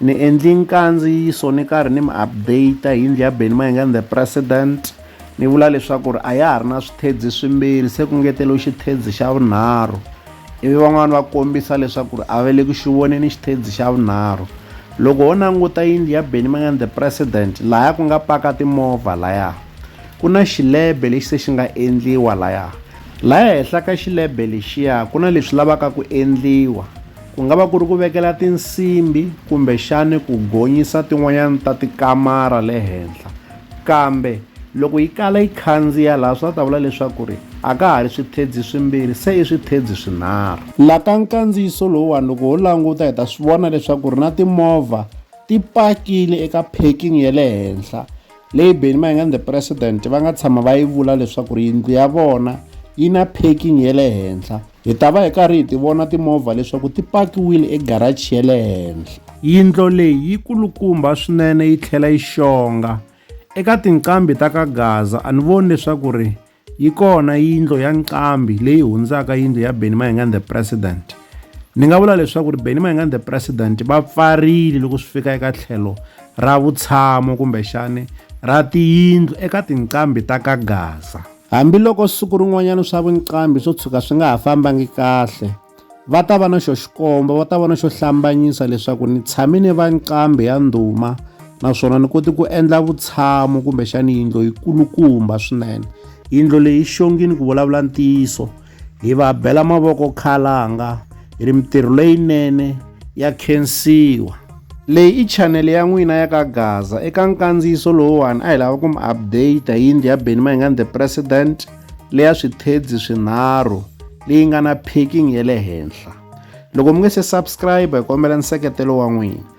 Ni endli nkandziyiso ni karhi ni mi update hi yindlu ya Benny Mayengani the president ni vula leswaku ri a ya ha ri na swithedzi swimbirhi se ku ngeteliwe xithedzi xa vunharhu ivi van'wani va kombisa leswaku ri a va le ku xi voneni xithedzi xa vunharhu loko ho languta yindlu ya Benny Mayengani the president laya ku nga paka timovha laya ku na xilebe lexi se xi nga endliwa laya laya henhla ka xilebe lexiya ku na leswi lavaka ku endliwa Ku nga va ku ri ku vekela tinsimbi kumbexani ku gonyisa tin'wanyana ta tikamara le henhla kambe loko yi kala yi khandziya laha swi ta vula leswaku ri a ka ha ri swithedzi swimbirhi se i swithedzi swinharhu la ka nkandziyiso lowuwani loko ho languta hi ta swi vona leswaku ri na timovha ti pakile eka parking ya le henhla leyi beni mayingani the president va nga tshama va yi vula leswaku ri yindlu ya vona yi na parking ya le henhla Hi ta va hi karhi hi ti vona timovha leswaku ti pakiwile egarachi ya le henhla. Yindlo leyi yi kulukumba swinene yi tlhela yi xonga. Eka tinqambi ta ka Gaza a ni voni leswaku ri yi kona yindlo ya nqambi leyi hundzaka yindlo ya Benny Mayengani the President. Ni nga vula leswaku ri Benny Mayengani the President va pfarile loko swi fika eka tlhelo ra vutshamo kumbexani ra tiyindlu eka tinqambi ta ka Gaza. Hambi loko siku rin'wanyana swa vunqambi swo tshuka swi nga ha fambangi kahle, va ta va na xo xikomba, va ta va na xo hlambanyisa leswaku ni tshame ni va nqambi ya ndhuma naswona ni kote ku endla vutshamo kumbexani yindlo yi kulukumba swinene. Yindlo leyi yi xongini ku vulavula ntiyiso. hi va bela mavoko khalanga hi ri mitirho leyinene ya khensiwa leyi i chanele ya n'wina ya ka gaza eka nkandziyiso lowuwani a hi lava ku mi update hi yindlu ya beni mayingani the president leya swithedzi swinharhu leyi nga na packing ya le henhla loko mi nge se subscribe hi kombela nseketelo wa n'wina